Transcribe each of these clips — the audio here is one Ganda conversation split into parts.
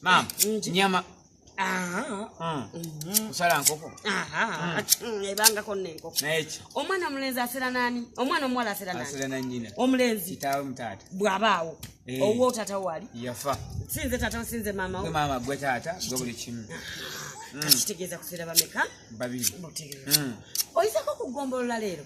Maama, nyama. Ah. Mm. Mm-hmm. Kusala nkoko. Aha. Mm. Ebanga ko nenko. Naechi. Omwana mulenzi asira nani? Omwana omwala asira nani? Asira nani nyina. Omulenzi. Kitawe mtata. Bwabawo. Hey. Eh. Owo tata wali. Yafa. Sinze tata sinze mama. Gwe mama gwe tata, gwe buli kimu. Mm. Kachitegeza kusira bameka? Babiri. Mutegeza. Mm. Oyisa ko kugombolola lero.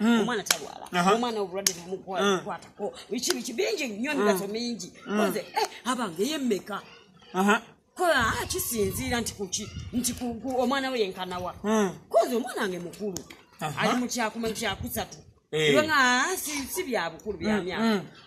Mm. omwana talwala omwana obulwadde nemukwatako mm. biki biki bingi nnyo emigaso mm. mingi oze eh, abange yemmeka kola ah, kisinziira nti kuki nti omwana we yenkanawa koze omwana wange mukulu ali mukyakuma kyakusatu eh. nga ah, si byabukulu byamyaka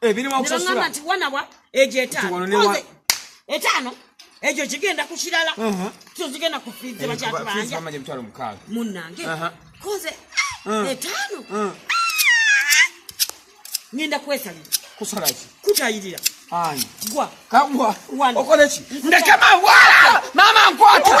ebirimu okusasula nti wana wa ejo etaano etaano ejo kigenda ku kirala kyo kigenda ku fiizi bakyatubanja munnange koze ah, etaano ah. ngenda kwesalira kusalaki kutayirira gwa kagwa okoleki ndekema wala mama nkwata